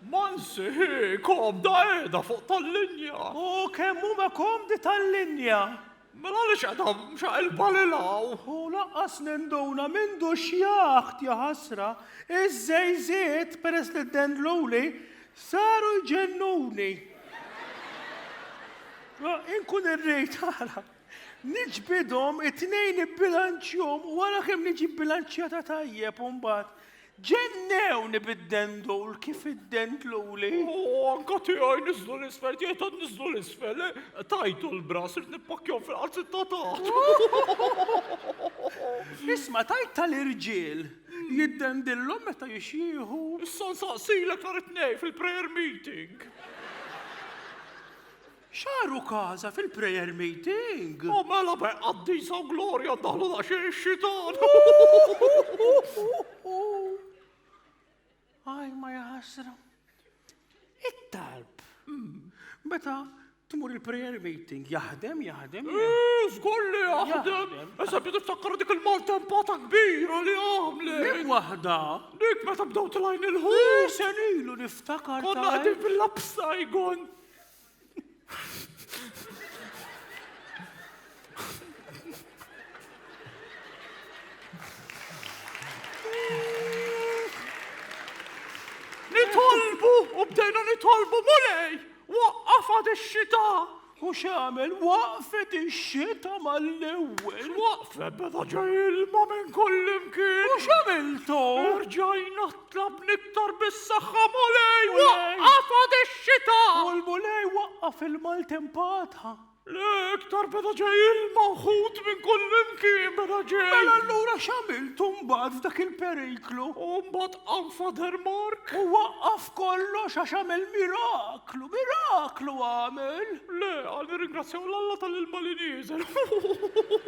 Monsi, hi komda qiegħda fuq tal-linja! U kemm huma komdi tal-linja! Mela għaliex qiegħda mxaqilba lil hawn? U lanqas ninduna m'għindux jaħt, jaħasra! Iż-żejżiet, peress li d-dendluli, Saru jġennuni. Inkun irrid ara. Niġbidhom it-tnejn ibbilanċjhom u ara kemm niġi bbilanċjata tajjeb u mbagħad. Ġennewni bid-dendul kif iddendluli. O, anka tiegħi niżlu l-isfel, tiegħi tant niżlu l-isfel. Tajtu l-bra, sirt nippakkjhom fil-qalzittatat. Isma' tajt tal-irġiel. Jiddendillhom meta jixjieħu. Issa nsaqsilek nhar it-Tnejn fil-prayer meeting. Xaru kaza fil-prayer meeting. U oh, mela be qaddisa u glorja daħlu daqsxejn ix-xitan. Aj ma jaħasra. It-talb. Meta tmur il-prayer meeting, jaħdem, jaħdem. Zgolli eh, jaħdem. Issa biedu tfakkar dik il-maltempata kbira li għamle. Dik wahda. Dik meta bdaw tlajn il-ħu. Eh, Senilu niftakar. Konna għadin fil-lapsa jgon. Nitolbu u bdejna nitolbu mulej, waqqafa ix-xita. U xamel waqfet ix-xita mal-ewwel. Waqfet beda ġej ilma minn kullimkien. U xamiltu? Rġajna Tlab niktar bis-saħħa Mulej waqqaf għad ix-xita. U l-Mulej waqqaf il-maltempata. Le iktar beda ġej ilma u ħut minn kullimkien beda ġej. Mela allura x'għamiltu mbagħad f'dak il-periklu? U mbagħad qam Father Mark. U waqqaf kollox għax għamel miraklu, miraklu għamel. Le, għal nirringrazzjaw l-Alla tal-ilma li nieżel.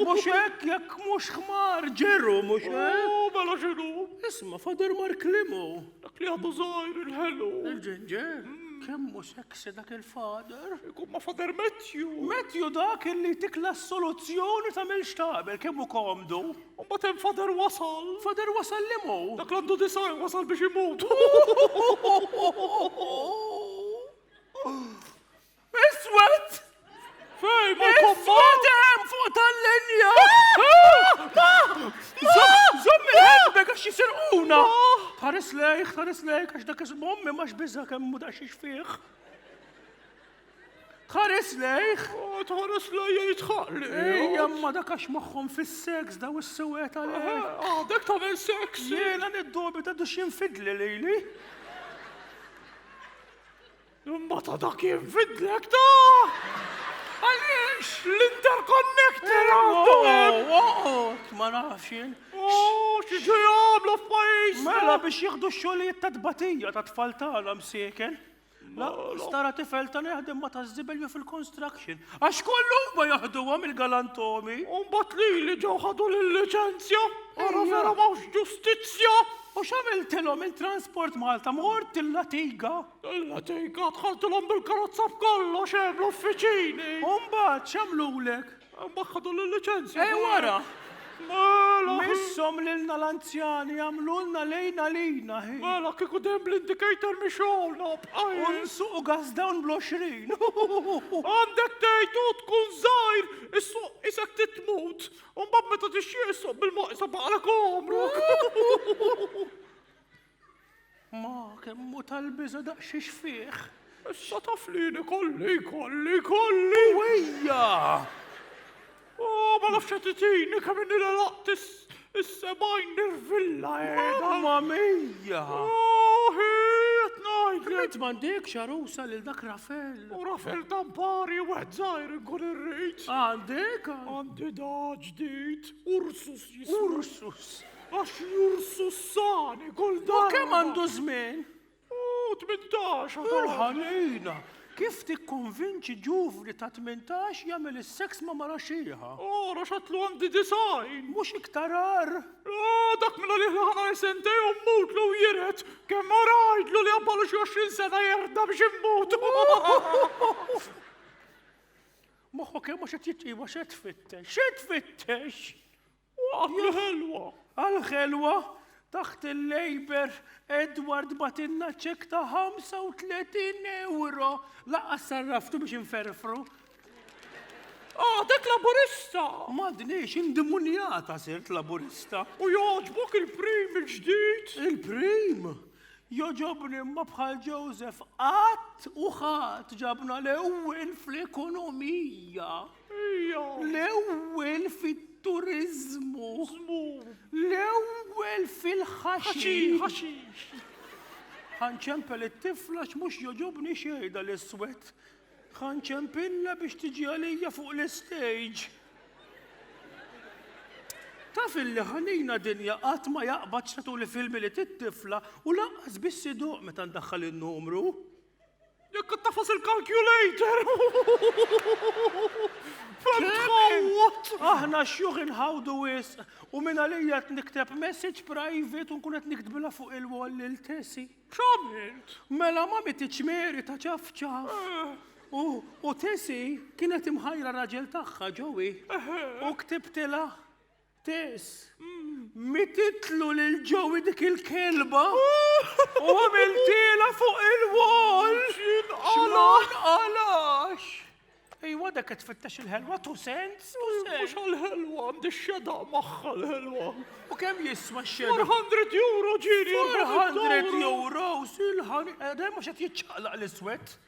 Mhux hekk jekk mhux ħmar ġeru mhux hekk. U mela x'inhu? Ma Father Mark Limo? Dak li għadu żgħir il-ħelu. Il-ġinġer? Hmm. Kemm mhux eksi dak il-Father? Ikun ma Father Matthew. Matthew dak illi tikla s-soluzzjoni ta' mil xtabel kemm hu komdu. Ma hemm Father wasal. Father wasal Limo? Dak l-għandu disajn wasal biex imut. Iswed! Fej, ma Iswed hemm fuq tal-linja! Zom il-ħelbek għax jisirquna! Tħares lejk, tħares lejk, għax dak ismu ommi ma xbiża kemm mu daqxiex fih. Tħares lejk! Tħares lejk jitħaq lejk! Ejja, ma dak għax moħħom fis-seks daw is-sewet għalek. Għadek ta' seks! Jena niddobi ta' duxin fidli lejli. Imma ta' dak jinfidlek ta' għaliex l-interconnector għandu hemm. Oqgħod, ma nafx jien. Oh, xi ġej jagħmlu f'pajjiż. Mela biex jieħdu x-xogħlijiet ta' tbatija ta' tfal tagħna msieken. La, stara tifel ta' neħdem ma ta' żibel jew fil-construction. Għax kollu ma jaħduhom il-galantomi. Umbat li li ġew ħadu l-licenzja. Ara vera mawx ġustizzja. U x'għamiltilhom il-Transport Malta mort il-latiga. Il-letika dħaltilhom bil-karozza b'kollox hemm l-uffiċini. U mbagħad x'għamlulek? Mbagħad ħadu l-liċenzja. Ej wara! Mela, Missom lilna l-anzjani għamlulna lejna lina hi. mela kieku dejjem bl-indicator mi xogħolna U bqajna. nsuqu gas down bl-20. Għandek tgħid u tkun żgħir, issuq isek titmut. U mbagħad meta tixtieq issuq bil-maqsa baqalek għomrok. Ma kemm hu tal-biża' daqsxiex fih. Issa taf li jien ikolli, ikolli, ikolli! Wejja! Oh, ma nafx qed itini kemm inni laqt is-sebgħin nirvilla qiegħda. Ma mejja! Oh, qed ngħidlek. Int m'għandek xarusa lil dak Rafel. U Rafel tampari u wieħed żgħir inkun irrid. Għandek? Għandi da ġdid, Ursus jismu. Ursus. Għax jursu s-sani kull darba. U kemm għandu żmien? U 18 għadu. Il-ħanina. Kif tikkonvinċi ġuvni ta' 18 jagħmel is-seks ma' mara xieħa? Ora xatlu għandi design. Mhux iktar ar. Ah, dak minna li ħana jisentej u mmut lu jiret. Kemm mara għajdlu li għabbalu xi 20 sena jerda biex immut. Moħħu kemm għax qed jitqiegħu xed fittex. Xed fittex. Waqja ħelwa! Għal-ħelwa taħt il-Labour, Edward batilna ċek ta' 35 euro. Laqqa sarraftu biex inferfru. Ah, dak laburista! Madniex, indimunjata sirt laburista. U joġbok il-prim il-ġdid? Il-prim? Joġobni ma bħal Joseph qatt u ħadd ġabna l-ewwel fl-ekonomija. L-ewwel fit-turiżmu. L-ewwel fil-ħaxix. Ħanċempel it-tifla x'mhux joġobni xejn dal-iswed. Ħanċempilla biex tiġi għalija fuq l-istage. Taf illi ħanina dinja qatt ma jaqbad x'tatu li filmi li tit-tifla u lanqas biss iduq meta ndaħħal in-numru. Jekk ittafas il-calculator! Aħna xjuħ inħawdu wisq u minn għalija qed nikteb message private u nkun qed niktbilha fuq il-wall lil Tessi. X'għamilt? Mela ma mititx meri ta' ċafċaf. Eh. U u Tessi kienet imħajra raġel tagħha ġowi. Eh. U ktibtilha Tess, mititlu lil Joey dik il-kelba u għamiltiela fuq il-wall! X'inqalax! X'inqalax! Ejwa dak qed tfittex il-ħelwa tu sens, tu sens. Mhux għall-ħelwa, għandi xeda magħha l-ħelwa. U kemm jiswa x-xeda? 400 euro ġieli. 400 euro, silħan, edem mhux qed jiċċaqlaq l-iswed.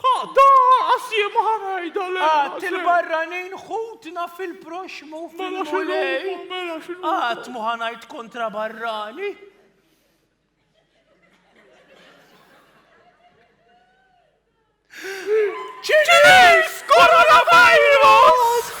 Ħa, da, għassie ma ħanajda l Għat il-barranin ħutna fil-proxmu fil-mulej. Mela xinu. Għat mu ħanajt kontra barrani. Ċilis! Coronavirus!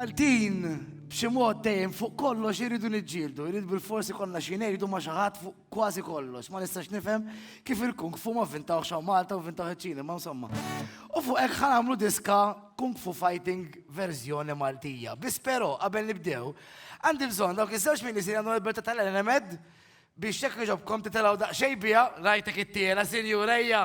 Għal din b'xi mod dejjem fuq kollox irridu niġġieldu, irrid bilfors ikollna xi ngħidu ma' xi ħadd fuq kważi kollox. Ma nistax nifhem kif il-kung fu ma vvintawhx hawn Malta u vvintawh iċ-Ċina, imma insomma. U fuq hekk ħa nagħmlu diska Kung Fu Fighting verżjoni Maltija. Biss però, qabel nibdew, għandi bżonn dawk iż-żewġ minisri għandhom il-belt tal-enemed biex jekk jogħġobkom titilgħu daqsxejn biha, rajtek ittiela, sinjur, ejja!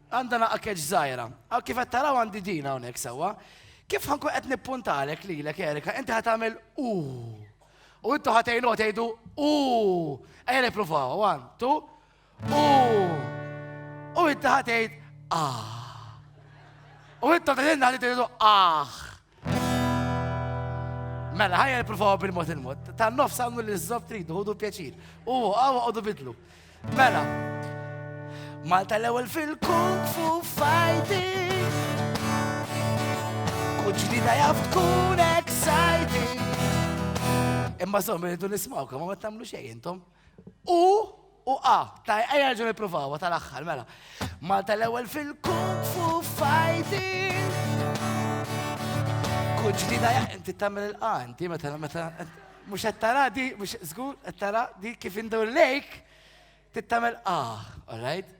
Għandha nagħqa keċ żgħira. Hawn kif qed taraw għandi din hawnhekk sewwa. Kif ħa nkun qed nippuntalek lilek Erika, inti ħa tagħmel u. U intu ħa tgħinu tgħidu u. Ejja nippruvaw. One, two. U. U inti ħa tgħid ah. U intom tgħidilna li tgħidu ah. Mela, ħajja nipruvaw bil-mod il-mod. Ta' nofs għamlu li z-zob tridu, ħudu pjaċir. U għaw għodu bidlu. Mela. Malta l-ewel fil-kung fu fighting. Kull ġdida jaf tkun exciting. Imma zom, rridu nismawkom, ma tamlu xej intom. U, u a, ta' ejja ġu nipruvawa tal-axħar, mela. Malta l-ewel fil-kung fu fighting. Kull ġdida ja, inti tamil il-qa, inti meta, meta, mux għattara di, mux zgur, għattara di kif indur lejk, tittamil qa, all right?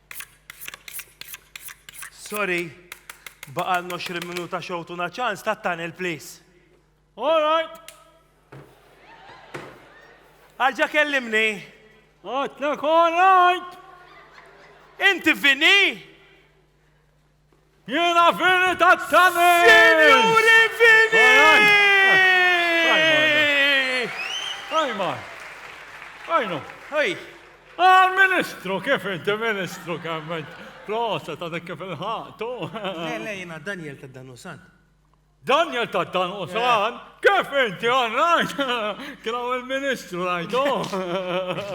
Sorry, baqal 20 minuta xowtuna ċans ta' tunnel, please. All right. Arġa kellimni. Għatlek, all right. Inti vini? Jiena Vini ta' Tani! Sinjuri Vini! Ajma! Ajnu! Ej! Ah, ministru, kif inti ministru kemment? Prosa ta' dik kif il-ħaqtu. Le, le, jiena Daniel ta' Danusant. Daniel ta' dan u sal, kif inti għan rajt? Kien għaw il-ministru rajtu.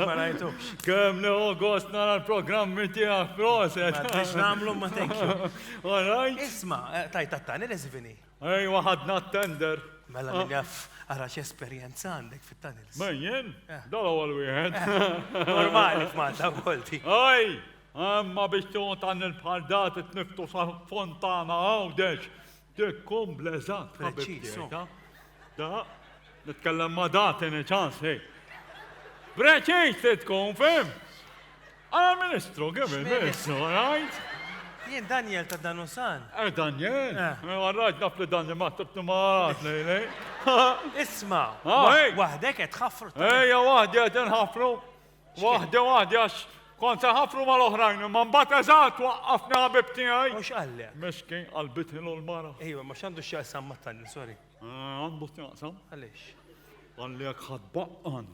Ma rajtu. Kem li u gost nara l-programmi tijak proset. Biex namlu ma tekju. Għarajt? Isma, eh, tajt tattani l-izvini. Ej, waħadna t-tender. Mela li għaf, ah. għara esperienza għandek fit-tunnels. Menjen, eh. dal għal wieħed. Eh, normali f'Malta, għolti. Ej, għamma biex tuħu tan il-bħal dat it-niftu sa' fontana għawdex. Dehkom bl-eżatt ħabib tiegħi, ta? Da, nitkellem ma' da tieni ċans, hej. Preċiż se tkun, fim? Għala ministru, kif il-ministru, għajt? Jien Daniel ta' Danusan. Eh, Daniel? Eh. eh għarraġ naf li Daniel ma' tibtu maħat li li. Isma, ah, wahdek għed ħafru. Ejja, wahdi għed nħafru. Waħda waħda għax kont se ħafru mal-oħrajn, imma mbagħad eżatt waqqafni ħabib tiegħi. U x'qallek? Mexkin qalbitni l-mara. Ejwa, ma x'għandu x'jaqsam ma' tallin, sorry. Eh, għandu x'jaqsam? Għaliex? Għalli jekk ħadd baqqan,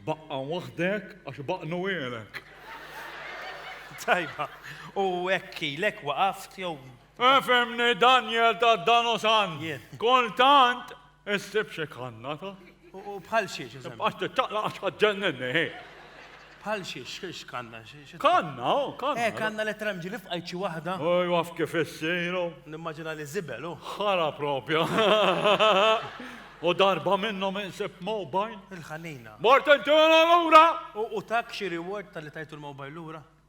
baqqan waħdek għax baqqnu għelek. Tajba, u ekki, lek waqaft jew. Efemni eh, Daniel ta' Danosan. Kontant Insib xi kanna ta'. U bħal xiex, eżempju. Għax tittaqla għax ħadġenninni, hi. Bħal xiex, xiex kanna, xiex. Kanna, oh, kanna. Eh, kanna li tramġi li fqajt xi waħda. Oj, waf kif issiru. Nimmaġina li zibel, oh. Ħara propja. U darba minnhom insib mobile. Il-ħanina. Mort inti l-ura! U tak xi reward tal-li tajtu l-mobile l-ura?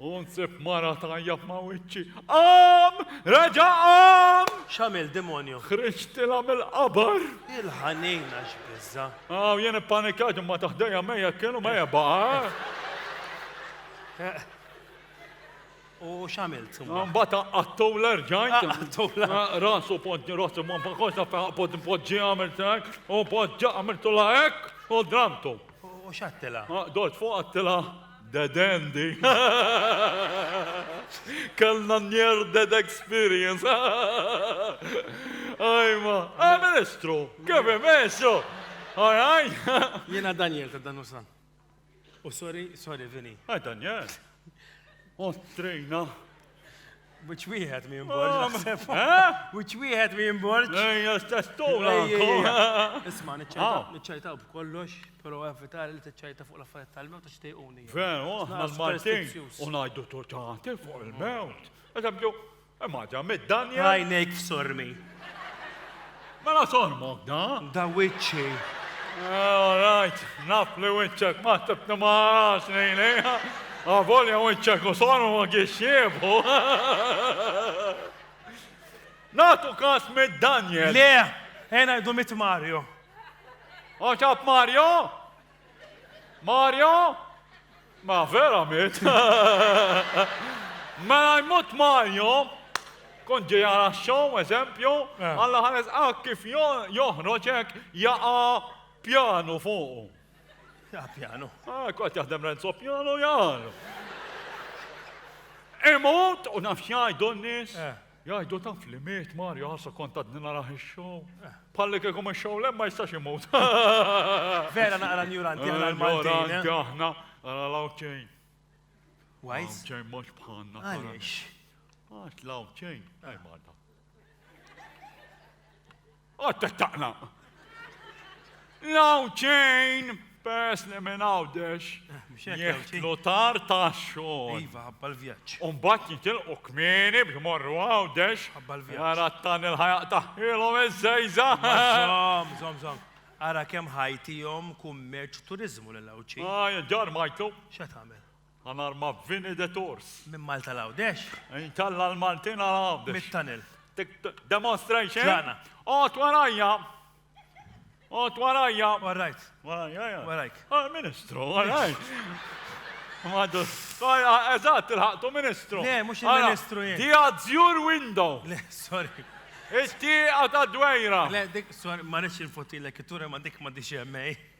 U nsib mara tajja ma' wiċċi. Qam! Reġa' qam! X'għamil demonju? Ħriġtilha mill-qabar. Il-ħanina x'biża. Aw jien ippanikat imma taħdejja mejja kienu mejja baqa'. U x'għamilt? Mbagħad qaqqattu l-erġajt. Qaqqattu rasu poġġi rasu ma baqgħodx naf poġġi għamilt hekk u poġġa għamiltu la hekk u dramtu. U x'għattilha? Dort fuq għattilha. The Dandy. Kellna near dead experience. Ajma, ah, ministru, kif imessu? Araj? Jena Daniel ta' dan usan. U sorry, sorry, Vini. Għaj, Daniel. Ostrejna. Which wieħed mi jimborġ, naħseb. Which wieħed mi jimborġ. Ejja, stess tola. Isma, niċċajtaw b'kollox, pero evitar li tiċċajta fuq l-affarijiet tal-mewt ta' xtejquni. Veru, aħna l-Martin, u ngħidu tortanti fuq il-mewt. Eżempju, imma ġa mid-Danja. Rajnejk f'sormi. Mela sormok da? Da wiċċi. Eh, all right, naf li wiċċek ma tibni ma għax nejni. Għavolja ah, wiċċek u sormu ma għiexiebu. Natu kas mid Daniel. Le, ena jdu mit Mario. Oċab Mario? Mario? Ma vera mit. Mela jmut Mario, kun ġej għala xow, eżempju, eh. għalla ħares għak ah, kif joħroġek jaqa pjanu fuqu. Ja pjanu. Ah, Kot jaħdem Renzo pjanu jgħal. Imut, u nafxajdu n-nis. Eh. Jgħidu taf li miet Mario ħassa kont għadni narah ix-show. Palli kieku ma show lem ma jistax imut. Vera naqra njuranti għal Maltin. Njuranti eh? aħna għal lawċejn. Wajs? Lawċejn mhux bħalna. Għaliex? Għax lawċejn, għaj marda. Għad tettaqnaq! Now chain, peress li minn Għawdex jidħlu tard għax-xogħol. Iva, ħabba l-vjaġġ. U mbagħad jitilqu kmieni biex imorru Għawdex. Ħabba l-vjaġġ. Ara t-tan il-ħajaq taħħilhom iż-żejża. Żomm, żomm, żomm. Ara kemm ħajtihom kummerċ u turiżmu lil Għawdxi. Għaj, id-dar ma jtlu. X'qed tagħmel? Għan arma vini de tors. Minn Malta l-Għawdex. Inkella l-Maltin għal-Għawdex. Mit-tunnel. Demonstration. Ġana. Għot warajja. Għot warajja. Warajt. Warajja, ja. Warajk. Ah, ministru, warajt. Madu. Eżat, il-ħaqtu ministru. Le, mux il-ministru jien. Di għadżjur window. Le, sorry. Isti għata dwejra. Le, dik, sorry, ma nix il-fotilek, it-tura ma dik ma diċi għemmej.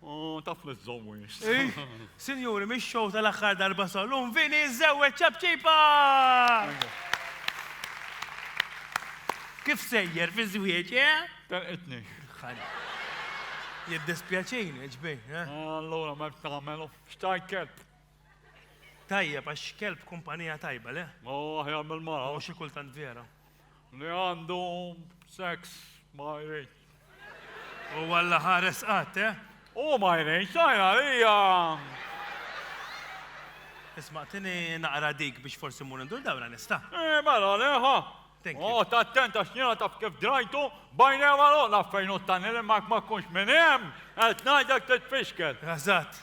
U taf li żżomm wiċċ. Ih, sinjuri, mix-show tal-aħħar darba sal-lum, Vini żżewweġ ċapċipa! Kif sejjer fiż-żwieġ, eh? Telqitni. Jiddispjaċini, ġbin, eh? Allura ma tagħmel xtajt kelb. Tajjeb, għax kelb kumpanija tajba, le? U aħjar mill-mara. U xi kultant vera. Li għandu sex ma jridx. Huwa la ħares qatt, eh? Hu ma jridx, tajn għalija! Isma' tini naqra dik biex forsi mmur indur dawra nista'. Eh, mela leħa! Għot attent għax jiena taf kif drajtu, bajna ma loqna fejn u t-tanil imma ma kunx minn hemm, qed ngħidlek titfixkel. Eżatt.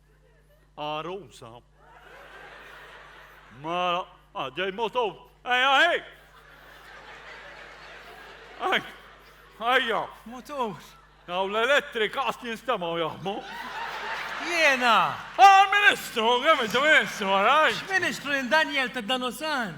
Għarusa. Mara, ah, ġej motu, ej, ej! Ej, ejja! Motu! Għaw l-elettrika għas jinstamaw jaħmu. Jena! Għal-ministru, għem il-ministru, għaraj! Ministru, Daniel ta' Danosan!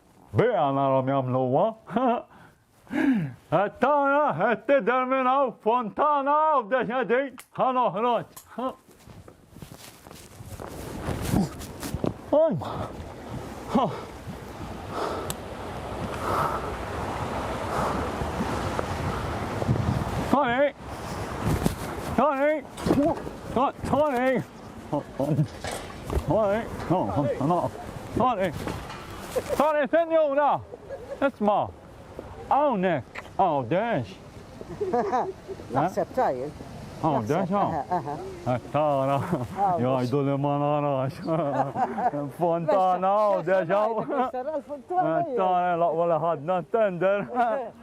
Biha narhom jagħmluha. Qed tara, qed tidher minn hawn fontana hawn deċedi ħa noħroġ. Ajma. Tony! Tony! Tony! Sorry, sorry, sorry, senjura! Isma, għawnek, għawdex. Naħseb tajjeb. Għawdex, għaw. Tara, jgħajdu li ma narax. Fontana, għawdex, għaw. Tara, laqwa li ħadna tender.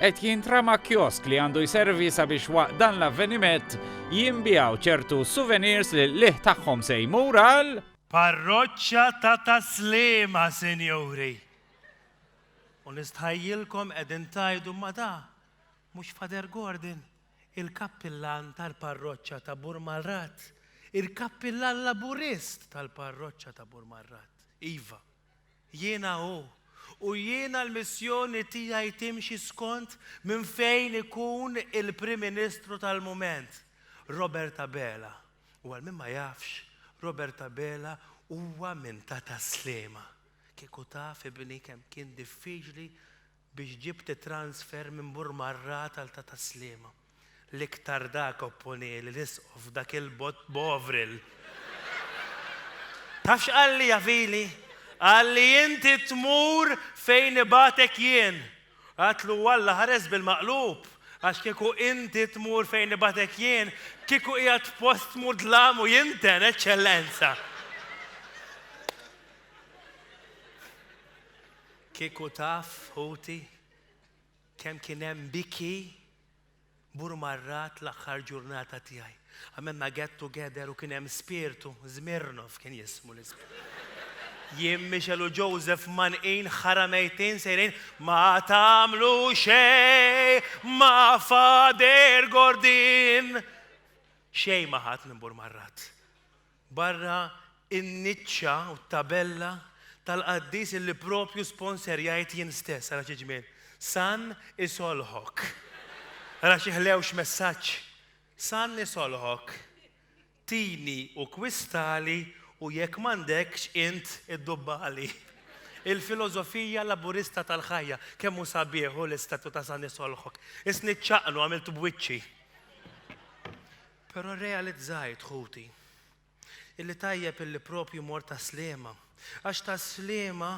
qed jintrama kiosk li għandu jservi sabiex waqt dan l-avvenimet jinbiegħu ċertu souvenirs li l-qligħ tagħhom se jmur għal Parroċċa ta' Tas-Sliema sinjuri! U nistħajjilkom qegħdin tgħidu ma da mhux Father Gordon, il-kappillan tal-parroċċa ta' Burmarrat, il-kappillan Laburist tal-parroċċa ta' Burmarrat. Iva. Jiena hu, u jiena l-missjoni tiegħi timxi skont minn fejn ikun il-Prim Ministru tal-mument, Robert Abela. U għal min ma jafx, Robert Abela huwa minn ta' Tas-Sliema. Kieku taf, ibni, kemm kien diffiċli biex ġibt it-transfer minn Burmarrat għal ta' Tas-Sliema. L-iktar dak opponieli l-Isqof f'dak il-bogħod Bovril. Taf x'qalli ja Fili? Qalli inti tmur fejn ibagħtek jien. Għadtlu u Alla ħares bil-maqlub għax kieku inti tmur fejn ibagħtek jien, kieku qiegħed f'post mudlam u jinten, Eċċellenza. Kieku taf, ħuti, kemm kien hemm biki burmarrat l-aħħar ġurnata tiegħi. Għamilna get together u kien hemm spirtu, Zmirnov kien jismu l-ispirtu. Jien Michel u Joseph manqin ħara mejtin sejrin ma tagħmlu xej ma Father Gordin. Xej ma ħadd minn burmarrat. Barra n-niċċa u t-tabella tal-qaddis illi propju sponserjajt jien stess, ara xi ġmiel! San isolħok! Ara xi ħlewx messaġġ! San isolħok! Tini u kwistali u jekk m'għandekx int iddubbali. Il-filosofija Laburista tal-ħajja. Kemm hu sabiħ hu l-istatu ta' San isolħok! Isni ċċaqnu għamiltu b'wiċċi. Però rrealizzajt, ħuti, illi tajjeb illi proprju mort għas-sliema, għax tas-sliema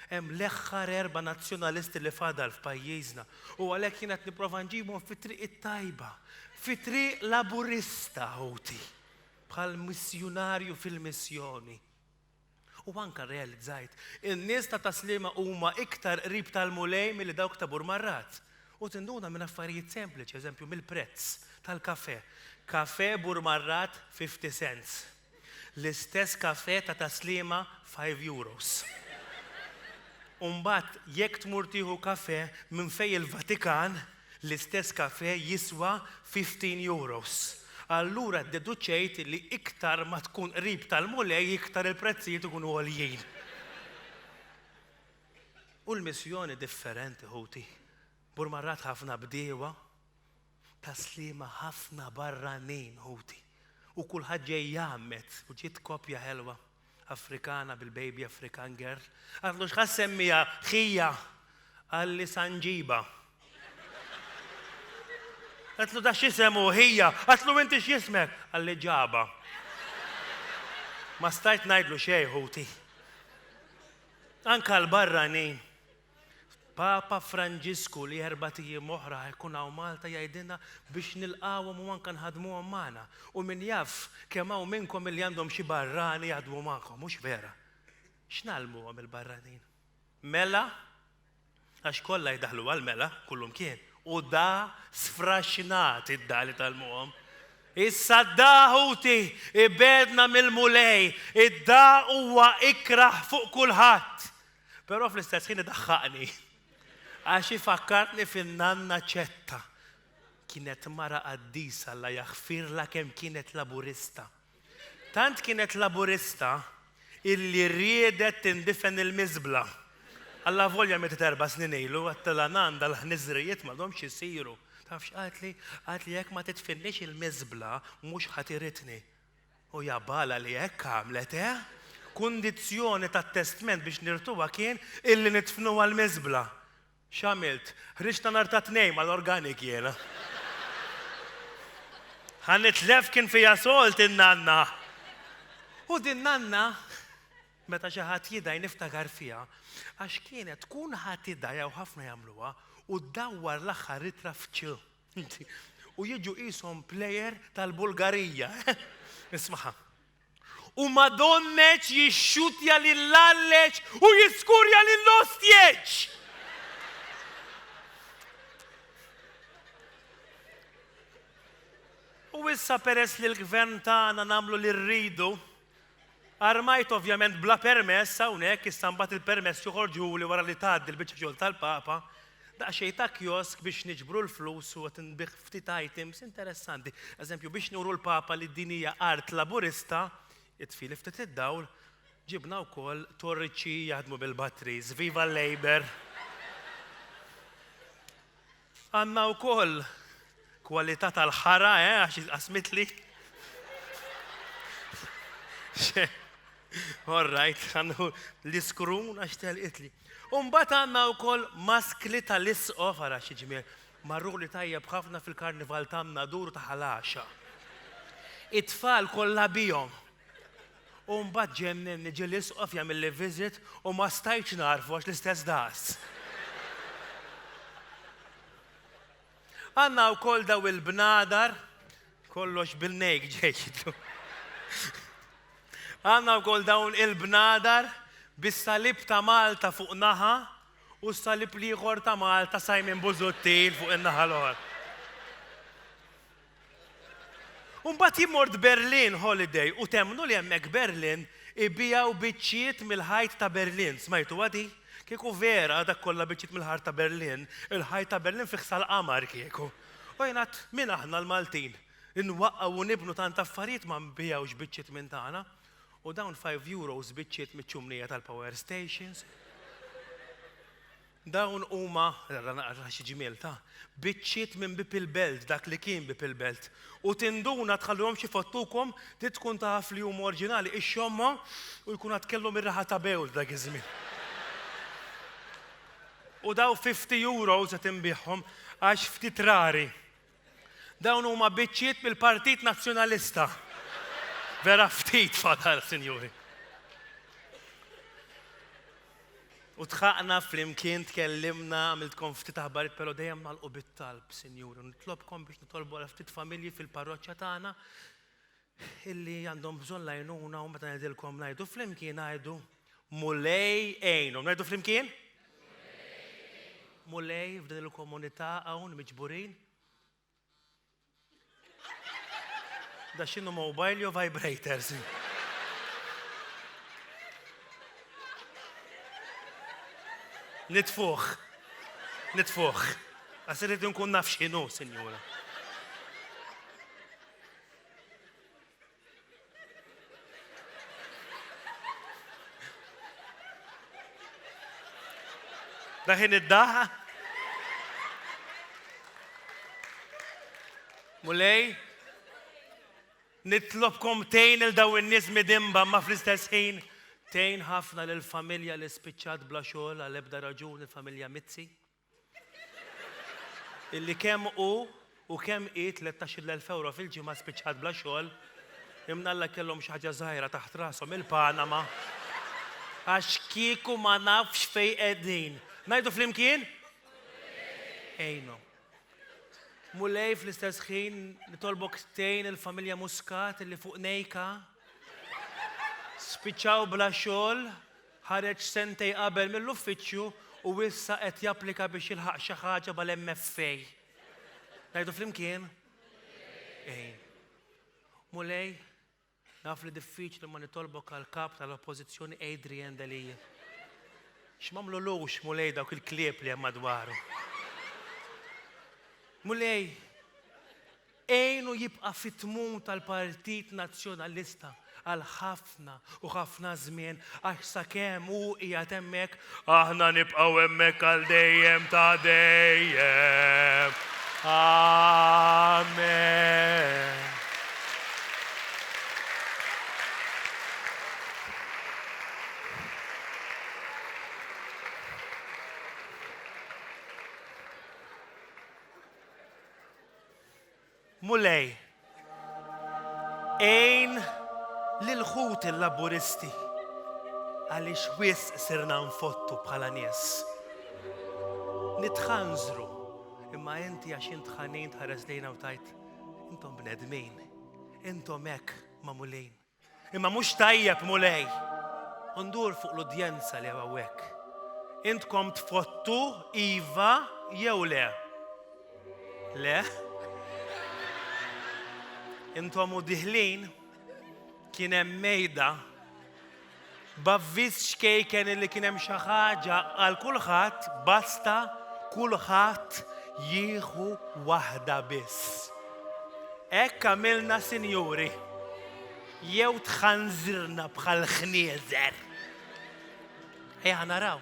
hemm l-eħħar erba' nazzjonalisti li fadal f'pajjiżna, u għalhekk jiena qed nipprova nġibhom fit-triq it-tajba, fit-triq Laburista, ħuti, bħal missjunarju fil-missjoni. U anke rrealizzajt, in-nies ta' Taslima huma iktar qrib tal-Mulej milli dawk ta' Burmarrat. U tinduna minn affarijiet sempliċi, eżempju, mill-prezz tal-kafè. Kafè Burmarrat fifty cents. L-istess kafè ta' Taslima five euros. U mbagħad jekk tmur tieħu kafè minn fejn il-Vatikan, L-istess kafè jiswa fifteen euros. Allura ddeduċejt li iktar ma tkun qrib tal-Mulej iktar il-prezzijiet ikunu għoljin. U l-missjoni differenti ħuti. Mur mar-rat ħafna bdiewa ta' Sliema ħafna barranin ħuti u kulħadd ġej jgħammed u ġiet koppja ħelwa. Afrikana bil-baby African girl. Għad mhux ħa semmiha ħija għalli sanġiba. Għatlu da xisemu ħija, għatlu inti x'jismek għalli ġaba. Ma stajt ngħidlu xejn ħuti. Anka l-barranin Papa Franġisku li erbat ijiem oħra ħa jkun hawn Malta jgħidilna biex nilqgħuhom u anke nħaddmuhom magħna. U min jaf kemm hawn minnkom li għandhom xi barrani jaħdmu magħkom, hux vera? X'ngħallmuhom il-barranin? Mela? Għax kollha jdaħħlu għall-mela, kullumkien. U da sfraxxnat id-da li tgħallmuhom. Issa d-da ħuti ibegħdna mill-Mulej, id-da huwa ikrah fuq kulħadd. Però fl-istess ħin idaħħaqni għax ifakkarni fin-nanna Ċetta. Kienet mara qaddisa Alla jaħfirla kemm kienet Laburista. Tant kienet Laburista illi riedet tindifen il-miżbla. Alla volja mietet erba' snin ilu, għattilha nan dal-ħniżrijiet m'għadhomx isiru. Taf x'qaltli? Qaltli jekk ma tidfinniex il-miżbla mhux ħadd iridni. U jabala li hekk għamlet, eh? Kundizzjoni tat-testment biex nirtuha kien illi nidfnuha l-miżbla. X'għamilt? Ħriġt ta' nhar tat-Tnejn mal-organic jiena. Ħa nitlef kien fiha solt in-nanna. U din nanna, meta xi ħadd jidgħi niftakar fiha, għax kienet tkun ħadd idgħi hawn ħafna jagħmluha, u ddawwar l-aħħar ittra f'ċ. U jiġu qishom plejer tal-Bulgarija. Ismaħa. U Madonneċ jixxutja lill-Alleċ u jiskurja lill-Ostjeċ! U issa peress li l-gvern tagħna nagħmlu li rridu, Armajt ovvjament bla permess hawnhekk issa mbagħad il-permess joħorġuhuli wara li tgħaddi l-biċċa xogħol tal-Papa, daqsxejn ta' kiosk biex niġbru l-flus u qed inbigħ ftit items interessanti. Eżempju biex nuru l-Papa li din hija art Laburista, itfili ftit id-dawl, ġibna wkoll torriċċi jaħdmu bil-batteries. Viva l-Labour! Għandna wkoll kwalità tal-ħara, eh, għax jitqasmitli. All right, għandu l-iskrun għax telqitli. Umbat għanna u koll maskli tal-isqof, għara xieġmiel, marru li tajjeb ħafna fil-karnival tamna dur ta' ħalaxa. It-tfal kollha bijom. U mbagħad ġennenni, ġie l-Isqof jagħmilli visit u ma stajtx nagħrfu għax l-istess daqs. Għandna wkoll daw il-bnadar, kollox bil-nejk ġejtu. Għandna wkoll dawn il-bnadar bis-salib ta' Malta fuq naħa u s-salib l-ieħor ta' Malta Simon Busuttil fuq in-naħa l-oħra. U mbagħad jien mort Berlin holiday u temmnu li hemmhekk Berlin ibigħu biċċiet mill-ħajt ta' Berlin. Smajtuha di? Kieku vera dak kollha biċċiet mill-ħart ta' Berlin, il-ħajt ta' Berlin fih sal-qamar kieku. U jien għadt, min aħna l-Maltin? Inwaqqgħu u nibnu tant affarijiet ma nbigħux biċċiet minn tagħna. U dawn five euros biċċiet miċ-ċumnija tal-power stations. Dawn huma, ara naqra x'ġmiel ta', biċċiet minn bieb il-belt, dak li kien bieb il-belt. U tinduna tħallihomx ifottukom, trid tkun taf li huma orġinali, ixxommha u jkun għad kellhom ir-riħa ta' bewl dak iż-żmien. U daw 50 euros qed inbigħhom għax ftit rari. Dawn huma biċċiet mill-Partit Nazzjonalista. Vera ftit fadal, sinjuri. U tħaqna flimkien tkellimna għamiltkom ftit aħbarit però dejjem nagħlqu bit-talb, sinjuri. Nitlobkom biex nitolbu għal ftit familji fil-parroċċa tagħna illi għandhom bżonn l-għajnuna u meta ngħidilkom ngħidu flimkien ngħidu Mulej għinhom. Ngħidu flimkien? Mulej f'din il-komunità hawn miġburin. Da x'inhu mobile jew vibrators. Nitfuħ. Nitfuħ. Għas irid nkun naf x'inhu, sinjura. Daħin id-daħ. Mulej, nitlobkom tejn il daw in-nies midimba ma fl-istess ħin tejn ħafna lil familja li spiċċat bla xogħol għal ebda raġuni familja Mizzi. illi kemm hu u kemm hi tlettax-il elf ewro fil-ġimgħa spiċċat bla xogħol, imnalla kellhom xi ħaġa żgħira taħt rashom il-Panama, għax kieku ma nafx fejn qegħdin. Ngħidu flimkien? Għinhom. Mulej fl-istess ħin nitolbok tgħin il-familja Muscat illi fuq nejka spiċċaw bla xogħol, Ħareġ sentejn qabel mill-uffiċċju u issa qed japplika biex jilħaq xi ħaġa mal-MFA. Ngħidu flimkien? Ejn. Mulej, naf li diffiċli ma nitolbok għall-Kap tal-Oppożizzjoni Adrian Delia. X'mamlulux Mulej dawk il-klieb li hemm madwaru. Mulej, Għinu jibqa' fit-tmun tal-Partit Nazzjonalista għal ħafna u ħafna żmien għax sakemm hu qiegħed hemmhekk, aħna nibqgħu hemmhekk għal dejjem ta' dejjem. Amen. Mulej, għin lil ħut il-Laburisti għaliex wisq sirna nfottu bħala nies. Nitħanżru imma inti għax int ħanin tħares lejna u tajt intom bnedmin, intom hekk mamulin. Imma mhux tajjeb, Mulej. U ndur fuq l-udjenza li hawnhekk. Intkom tfottu iva jew le? Le? Intom u diħlin kien hemm mejda B'avviż ċkejken li kien hemm xi ħaġa għal kulħadd, basta kulħadd jieħu waħda biss. Hekk għamilna sinjuri. Jew tħanżirna bħal ħnieżer. Ejja naraw.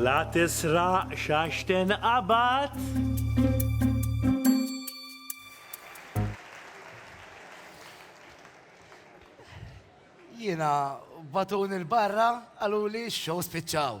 La tisraqx għax tinqabad. Jiena batuni l-barra qaluli x-shows spiċċaw.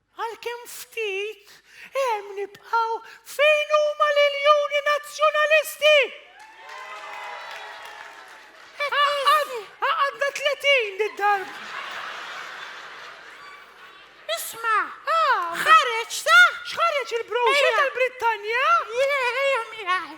Għalkemm ftit, hemm nibqgħu fejn huma l-iljuni Nazzjonalisti! Għaqadna tletin did-darba. Isma', ħareġ sa? X'ħareġ il-brochure tal-Brittanja? Le, ejja miegħi.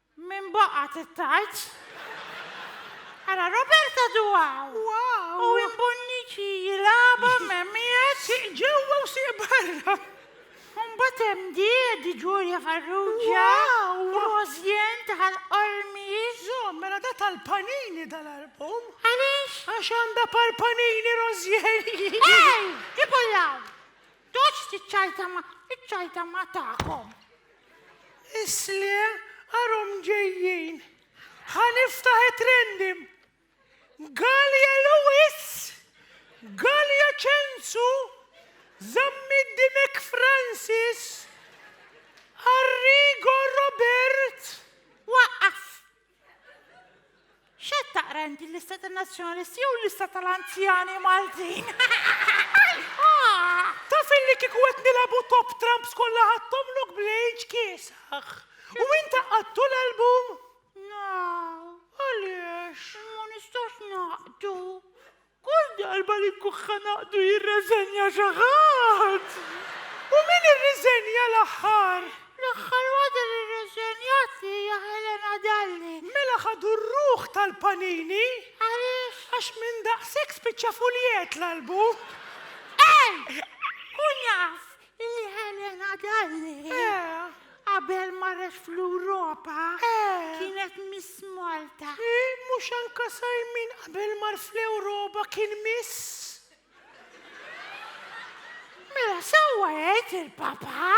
Min baqgħet it-tarz? Ara Roberta Duaw u Win Bonnici jilagħba Memias. Sieq ġewwa u sieq barra. U mbagħad hemm di, di Ġurja Farrugia, Rosien ta' Ħal Qormi. Żomm, mela da tal-panini dal-album. Għaliex? Għax għandha par panini Rosien. Ej, ipullaw! Toċ tiċċajta ma' iċċajta ma' tagħkom. Isle arhom ġejjin. Ħa niftaħ it-trendim. Galja Lewis, Galja Ċensu, Zammit Dimek Francis, Arrigo Robert. Waqqaf! X'qed taqra inti l-lista tan-Nazzjonalisti jew l-lista tal-anzjani Maltin? Taf illi kieku qed nilagħbu top trumps kollha ħadthomlok bl-age kiesaħ. U int qaqqadtu l-album? Għaliex? Ma nistax naqdu. Kull darba li nkuħħa naqdu jirreżenja xi ħadd! U min irriżenja l-aħħar? L-aħħar waħda li rreżenjat hija Helena Dalli. Mela ħadu r-ruħ tal-panini? Għaliex? Għax minn daqshekk spiċċa fuljett l-albu. Ej! Kun jaf! Li Helena Dalli, qabel marret fl-Ewropa, kienet Miss Malta. Mhux anke Simon qabel mar fl-Ewropa kien Miss? Mela sewwa jgħid il-Papa!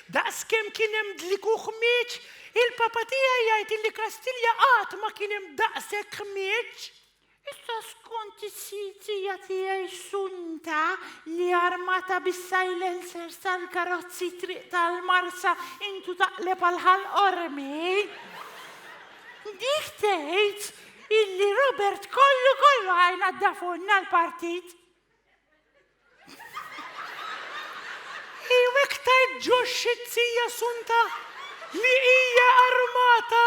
Daqs kemm kien hemm dlik u ħmieġ, il-Papa tiegħi jgħid illi Kastilja qatt ma kien hemm daqshekk ħmieġ. Issa skont is-sjitzija tiegħi sunta li armata bis-silencers tal-karozzi t-triq tal-Marsa intu taqleb għal Ħal Qormi. Dik tgħid illi Robert kollu kollu għajn għadda fuqna l-partit. Jew iktar ġox xi tzija sunta li hija armata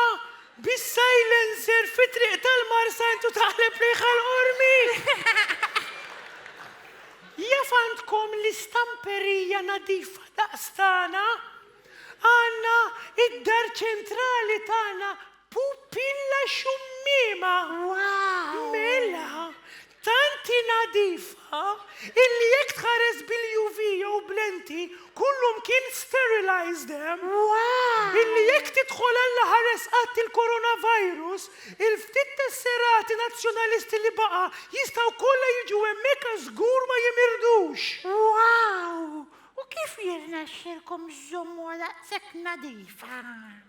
bis-silencer fi triq tal-Marsa intu taħleb riħha l-qormi. Jaf għandkom l-istamperija nadifa daqs tagħna? Għandna id-dar ċentrali tagħna Pupilla xummiema! Wow! Mela, tant hi nadifa illi jekk tħares bil-UV jew b'lenti kullu mkien sterilized hemm. Wow! Illi jekk tidħol Alla ħares qatt il-coronavirus, il-ftit tesserati Nazzjonalisti li baqa' jistgħu kollha jiġu hemmhekk għax żgur ma jimirdux! Wow! U kif jirnexxilkom żżommuha daqshekk nadifa?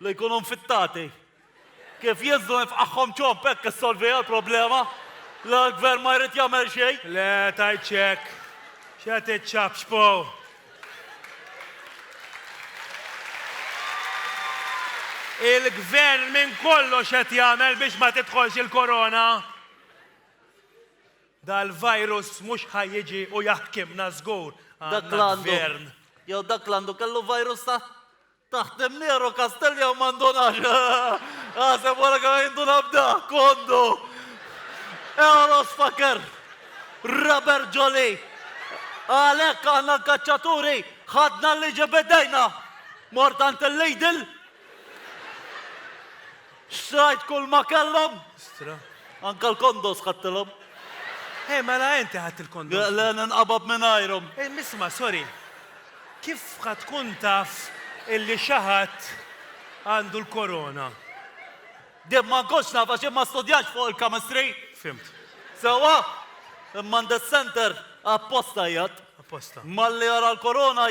Li jkunu nfittati. Kif Jeżu infqagħhom ċomb hekk issolviha l-problema? La l-gvern ma jrid jagħmel xejn? Le, tgħidx hekk. X'qed tiċċapċpaw? Il-gvern minn kollox qed jagħmel biex ma tidħolx il-korona. Dal-virus mhux ħa jiġi u jaħkimna żgur. Dak l-għandu. Jew dak l-għandu kellu virus ta' Taħdem Nero Castelli hawn ma ndunax. Aħseb wara kemm qed jinduna b'da, kondu! Eros faker! Raber ġoli! Għalhekk aħna l-kaċċaturi ħadna l-liġi b'idejna! Mort għand il-Lidl! Xtrajt kull ma kellhom. Stra. Anke l-kondos ħadtilhom. Ej, mela inti ħadt il-kondos. Le, le, ninqabad mingħajrhom. Ej, isma', sorry. Kif ħa tkun taf illi xi ħadd għandu l-korona? Jien ma nkunx naf għax jien ma studjajtx fuq il-chemistry. Fhimt. Sewwa? Imma għand is-center apposta jgħadd. Apposta. Malli jara l-korona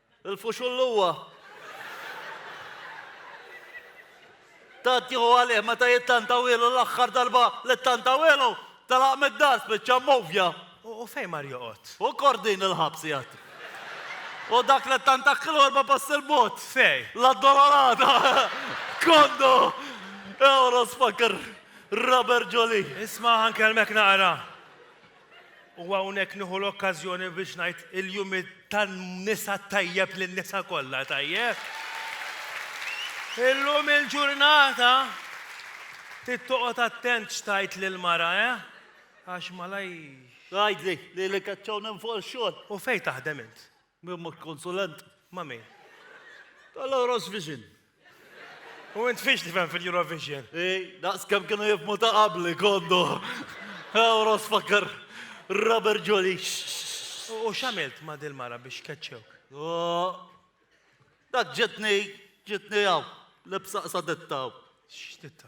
Il-fuxull huwa. Tant jieħu għalih meta jittantawielu l-aħħar darba li ttantawielu, telaq mid-dar spiċċa mmovja. U fejn mar joqgħod? U kordin il-ħabs jgħid. U dak li ttantakkilu erba' passi l-bogħod. Fej? L-addolorata. Kondo! Euros fakkar Robert Ġoli. Isma' ħankellmek naqra. U hawnhekk nieħu l-okkażjoni biex ngħid il-jum tan-nisa tajjeb lin-nisa kollha tajjeb. Illum il-ġurnata trid toqgħod attent x'tgħid lill-mara, eh? Għax malaj. Tgħidli li li kaċċawna minn fuq ix-xogħol. U fejn taħdem int? Min ma konsulent? Ma' min? Tal-Oros Vision. U int fiex tifhem fil-Eurovision? Ej, daqs kemm kienu jifmu ta' qabli kondu. Oros fakkar Robert Ġoli. U x'għamilt ma' dil-mara biex keċċewk? Dak ġetni, ġetni hawn, lebsa qsadetta hawn. X'ditta?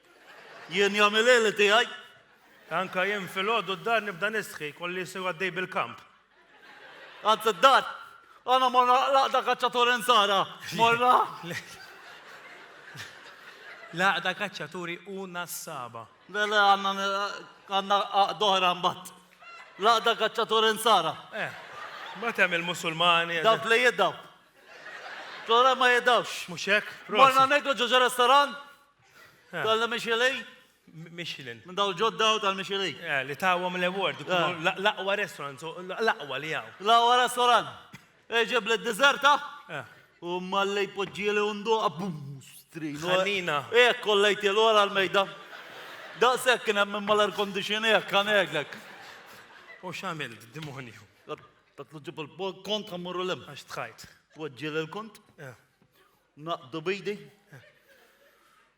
Jien jom il-lejl tiegħi. Anke jien filgħodu d-dar nibda nistħi, kolli jsir għaddej bil-kamp. Għand id-dar. Għana morna laqda kaċċaturi nsara. Morna. Laqda kaċċaturi u nassaba. Le, le, għanna doħra mbatt. Laqda kaċċaturi nsara. Eh, ma tem il-musulmani. Dawk li jiddaw. Tora ma jiddawx. Muxek, Morna negru ġoġa restoran? Tal-Michelin? Michelin. Minn daw ġodda u tal-Michelin. Eh, li tawhom l-award, l-aqwa restaurant, l-aqwa li hawn. L-aqwa restaurant. Eġib li d-dizerta? Eh. U mallej poġġieli undu abbus. Ħannina. Eh, kollejt il-ora l-mejda. Daqsek kien hemm imma l-air conditioner kan eglek. U x'għamil d-demonju? Tatlu ġib il-kont ħammurru l-hemm. Għax tħajt. Poġġieli l-kont? Eh. Naqdu b'idi.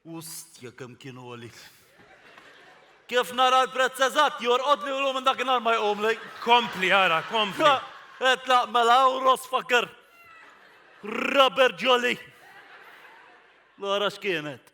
Ustja kemm kien għoli. Kif nara l-prezz eżatt jorqodli u minn dakinhar ma jqumli. Kompli ara, kompli. Etlaq mela u rosfaker. Rubber jolly. L-għara x'kienet?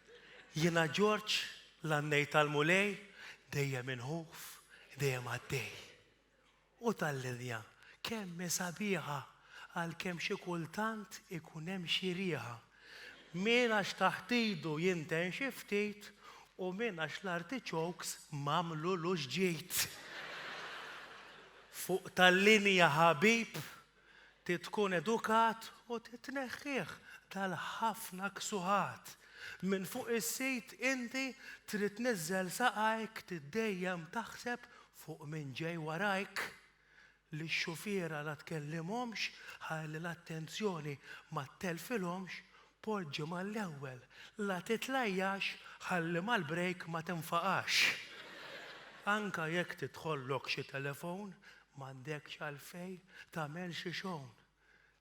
Jiena Ġorġ, l-għannej tal-Mulej, dejjem inħuf, dejjem għaddej. U tal-linja kemm hi sabiħa, għalkemm xi kultant ikun hemm xi riħa. Min għax taħt idu jinten xi ftit u min għax l-artichokes m'għamlulux ġid. Fuq tal-linja ħabib, Trid tkun edukat u trid tneħħih dal-ħafna ksuħat minn fuq is-sit inti trid tniżżel saqajk tiddejjem taħseb fuq min ġej warajk. Lix-xufiera la tkellimhomx ħalli l-attenzjoni ma ttelfilhomx Poġġi mal-ewwel, la titlajjax ħalli mal-break ma tinfaqax. Anke jekk tidħollok xi telefown, m'għandekx għalfejn tagħmel xi shown.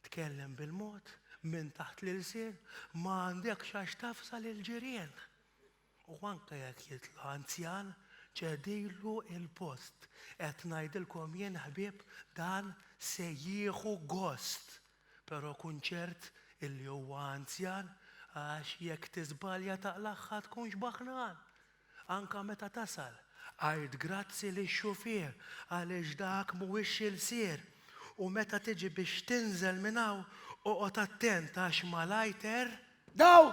Tkellem bil-mod, minn taħt l-ilsien, ma għandekx għax tafża lill-ġirien. u anke jekk jitla' anzjan, ċedilu l-post. Qed ngħidilkom jien, ħbieb, dan se jieħu gost. Però kun ċert illi huwa anzjan, għax jekk tiżbalja taqlagħha tkun xbaħnan. Anke meta tasal, għid grazzi lix-xufier għaliex dak mhuwiex ilsir. U meta tiġi biex tinżel minn hawn, oqgħod attent għax malajter. Daw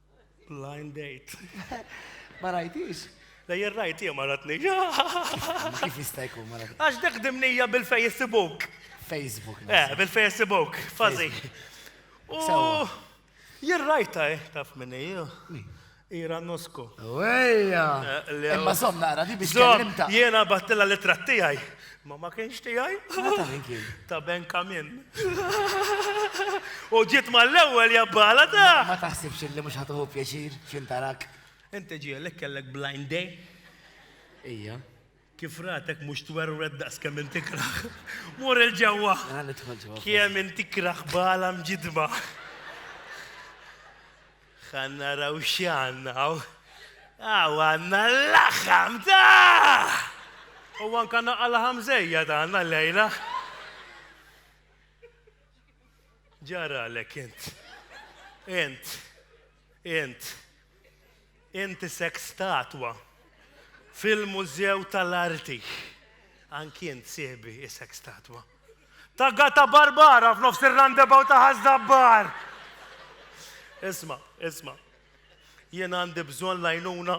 Blind date. Ma rajtix? Le jien rajtija ma ratni. Kif jista' jkun ma ratni? Għax dik dimnija bil-Facebook. Facebook. Eh, bil-Facebook, fazi. U jien rajta, eh, taf minni, Ira Nusko. Wejja! Eh, Imma somna, għara, di biex kellimta. Jena battilla li trattijaj. Ma ma kienx tiegħi? Ma ta' min kien? Ta' Ben Kamin. U ġiet mal-ewwel jabbala ta'. Ma taħsibx li mhux ħatuħu pjaċir x'intarak. Inti ġielek kellek blind day? Ija. Kif ratek mhux twerwed daqs kemm inti kraħ. Mur il-ġewwa. Kemm inti kraħ bala mġidba. Ħa naraw x'għandna hawn. Hawn għandna l-laħam ta'! U anke naqqa laħam żejjed għandna llejla. Ġaralek int. Int. Int. Int isek statwa fil-mużew tal-arti. Anki int sieħbi isek statwa. Ta' Gata Barbara f'nofs ir-roundabout ta' Ħaż-Żabbar! Isma', isma'. Jien għandi bżonn l-għajnuna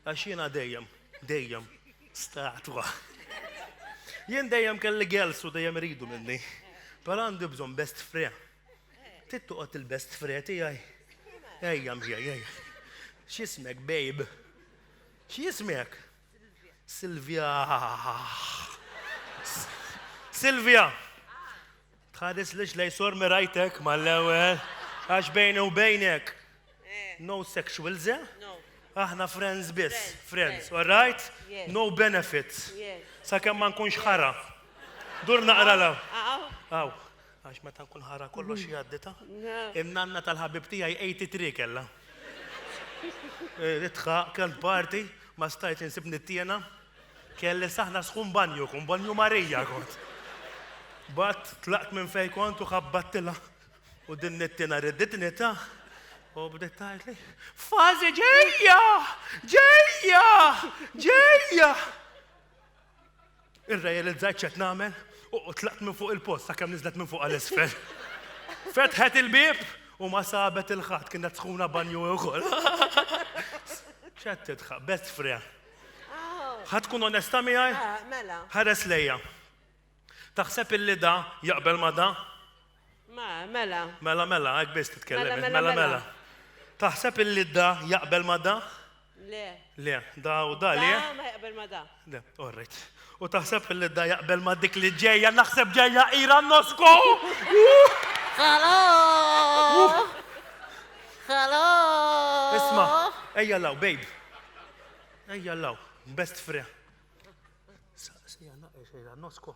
għax jiena dejjem, dejjem statwa. Jien dejjem kelli girls u dejjem iridu minni. Però għandi bżonn best fre. Trid toqgħod il-best fre tiegħi. Ejja miegħi, ejja. X'ismek, babe? X'ismek? Silvia. Silvia! Tħarislix lej sor mirajtek mal-ewwel għax bejni u bejnek. No sexuals, eh? Aħna friends biss, friends, all right? No benefits. Sakemm ma nkunx ħara. Dur naqra la. Aw. Għax meta nkun ħara kollox jgħaddi ta'. In-nanna tal-ħabib tiegħi 83 kellha. Ridtha, kellt party, ma stajtx insib nittiena. Kelli saħna sħun banju, kun banju Marija kont. Bat tlaqt minn fejn kont u ħabbattilha u din nittiena ridditni ta' u bdiet tgħidli, fażi ġejja! Ġejja! Ġejja! Irrealizzajt x'qed nagħmel u tlaqt minn fuq il-post sakemm niżlet minn fuq għal isfel. Fetħet il-bieb u ma sabet il-ħadd kienet sħuna banju ukoll. X'qed tidħaq, best fre. Ħadd tkun onesta miegħi? Mela. Ħares lejja. Taħseb illi da jaqbel ma' da? Ma, mela. Mela, mela, hekk biss titkellem int. Mela, mela. Taħseb illi da jaqbel ma da? Le. Le, da u da le? Da ma jaqbel ma da. Le, all right. U taħseb illi da jaqbel ma dik li ġejja, naħseb ġejja ira nosko! Hello! Hello! Isma, ejja law, babe. Ejja law, best friend. Saqsija naqqa xejra nosko.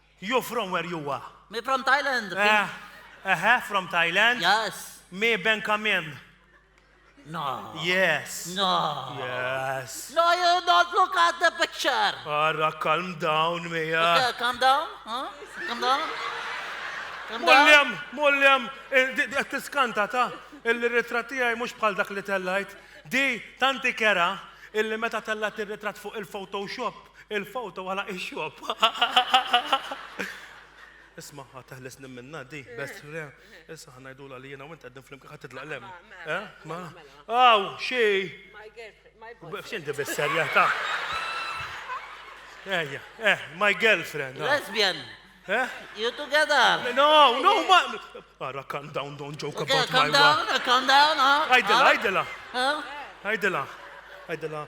You from where you are? Me from Thailand. Ehe, from Thailand? Yes. Me Ben Kamin. No. Yes. No. Yes. No, you don't look at the picture. Ara, calm down, Mia. Okay, calm down. Huh? Calm down. Mullim, mullim, eh, tiskanta ta' il-ritratti għaj mux bħal dak li tellajt. Di, tanti kera, illi meta tella tirritrat fuq il-Photoshop, Il-foto għala ix-xogħol. Isma' ħa teħles nimminna di, best re. Issa ħa ngħidula li jiena u int qegħdin flimkien ħadd titlaq lem. Eh? Ma. Aw, xi. X'in di bis-serjetà? Ejja, eh, my girlfriend. Ah. Lesbian. Eh? You together. No, no, ma. Ara, calm down, don't joke about my wife. Calm down, calm down. Ajdela, ajdela. Ajdela, ajdela.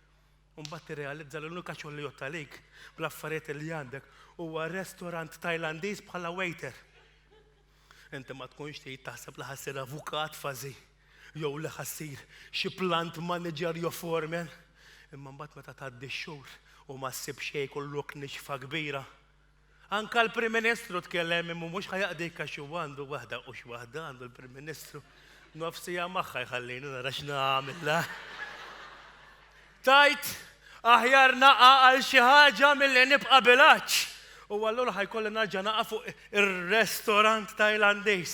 u mbagħad tirrealizza li l-unika xogħol li jgħodd għalik bl-affarijiet li għandek huwa restorant Tajlandiż bħala waiter. Inti ma tkunx trid taħseb li ħassir avukat fażi jew li ħassir xi plant manager jew foreman. Imma mbagħad meta tgħaddi x-xhur u ma ssib xejn kollok nixfa kbira, Anka l-Prim Ministru tkellem imma mhux ħa jaqdik għax huwa għandu waħda u x'waħda għandu l-Prim Ministru. Nofs siegħa magħha jħallini nara x'nagħmilha. Tajt aħjar naqa' għal xi ħaġa milli nibqa' bilaċ. U allura ħajkolli narġa' naqa' fuq ir-restorant Tajlandiż.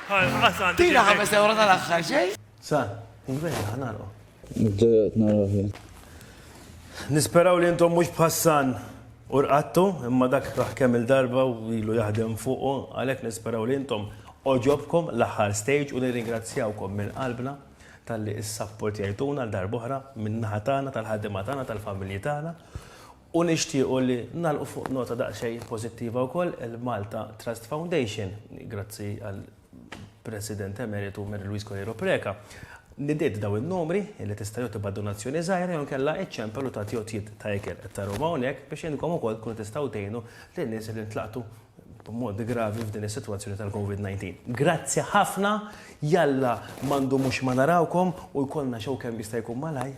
Tina ħames ewro tal-aħħar, xejn? Sa, vera, ħa nagħlqu. Nibdew qed naraw fih. Nisperaw li intom mhux bħassan u rqattu, imma dak raħ kemm il-darba u ilu jaħdem fuqu, għalhekk nisperaw li intom oġobkom l-aħħar stage u nirringrazzjawkom minn qalbna talli issapportjajtuna għal darba oħra min-naħa tagħna tal-ħaddiema tagħna tal-familji tagħna. U nixtiequ li nagħlqu fuq nota daqsxejn pożittiva wkoll, il-Malta Trust Foundation, grazzi għall-President Emeritu Mary Louise Coleiro Preca, nidiet dawn in-numri li tista' jew tibgħat donazzjoni żgħira jew inkella iċċempel u tagħti għotjiet ta' ikel, qed tarahom hawnhekk, biex intkom ukoll tkunu tistgħu tgħinu lin-nies li ntlaqtu b'mod gravi f'din is-sitwazzjoni tal-Covid 19. Grazzi ħafna, jalla ma ndumux ma narawkom u jkollna show kemm jista' jkun malajr.